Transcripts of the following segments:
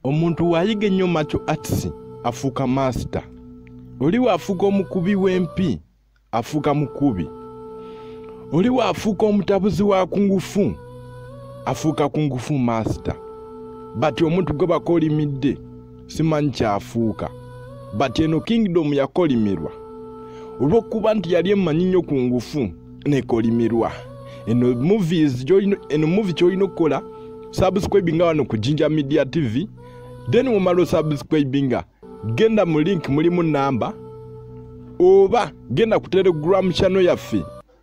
omuntu waayiga ennyo maco atisi afuuka maasita oli waafuuka omukubi w'empi afuuka mukubi oli waafuuka omutabuzi wa kungufu afuuka kungufu maasita bati omuntu gwe bakolimidde simanyi kyafuuka bati eno kingidomu yakolimirwa olw'okuba nti yali emanyi nnyo ku ngufu nekolimirwa eno movies eno movie kyolina okukola subscribinga wano ku jinja media tv then womala osubscribinga genda mu link mulimu namba oba genda ku telegram channel yaffe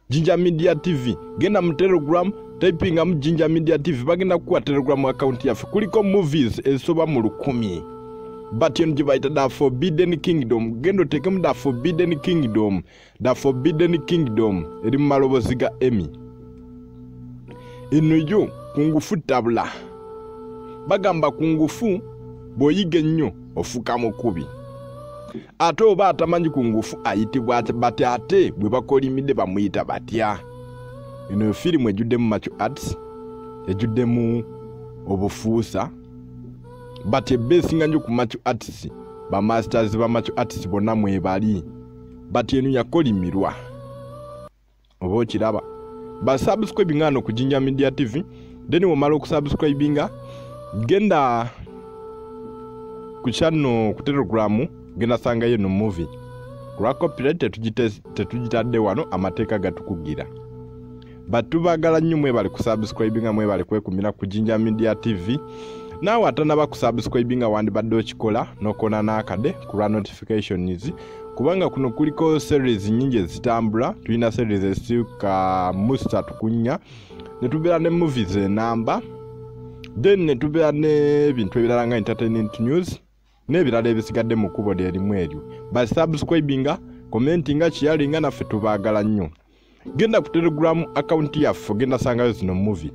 jinja media tv genda mu telegram typingamu jinja media tv bagenda kukuwa telegram account yaffe kuliko movies ezisoba mu lukumi but eno gye bayita the forbidden kingdom genda oteekemu the forbidden kingdom The Forbidden Kingdom eri mu malobozi ga Emmy. Eno yo kungufu tabula. Bagamba kungufu bw'oyiga ennyo ofuka mukubi. Ate oba atamanyi kungufu ayitibwa bati ate bwe bakolimidde bamuyita batya. Eno yo firimu ejjuddemu macu arts, ejjuddemu obufuusa. Bati ebbeesinga nnyo ku macu arts, bamasters ba macu arts bonna mwebali. but eno yakolimirwa oba okiraba basubscribe nga no ku jinja media tv then womala okusubscribinga genda ku channel ku telegram genda sangayo no movie kulwa copyright tetugitadde wano amateeka gatukugira but tubagala nnyo mwebale kusubscribinga mwebale kwekumira ku jinja media tv naawe atanaba kusubscribinga wandibadde okikola nokona n'akade ku lwa notifications kubanga kuno kuliko series nyingi ezitambula tulina series ezisika musta tukunya netubeera ne movies enamba then netubeera n'ebintu ebirala nga entertainment news n'ebirala ebisigadde mu kkubo lyerimu eryo basubscribinga commentinga kiyalinga naffe tubaagala nnyo genda ku telegulamu akawunti yaffe ogenda sangayo zino muvi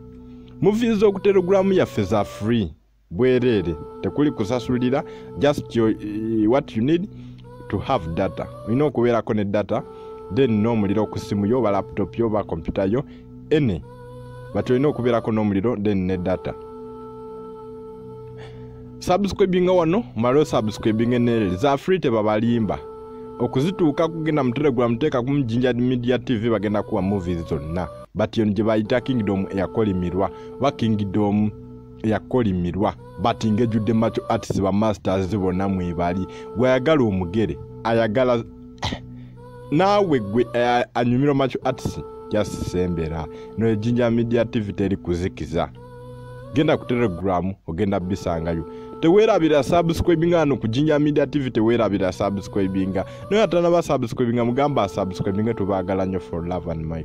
muvi z'oku telegulamu yaffe za free bwereere tekuli kusasulira just your, eh, what you need to have data olina okubeerako ne data then n'omuliro ku ssimu yo oba laputopu yo oba kompyuta yo ene but olina okubeerako n'omuliro then ne data subscribinga wano mala osubscribinga enelere za free tebabalimba okuzituuka kugenda mu telegram teeka ku mujinja media tv bagenda kuwa movies zonna but yono gye bayita kingdom eyakolimirwa oba kingdom eyakolimirwa but ngejjudde macho arts ba masters bona mwebali gweyagala omugere ayagala naawe gwe eh, anyumira macho arts jasisembera no ejinja media tv teri kuzikiza genda ku telegram ogenda bisangayo tewerabira subscribinga ano ku jinja media tv tewerabira subscribinga naye atanaba subscribinga mugamba subscribinga tubagala nyo for love and my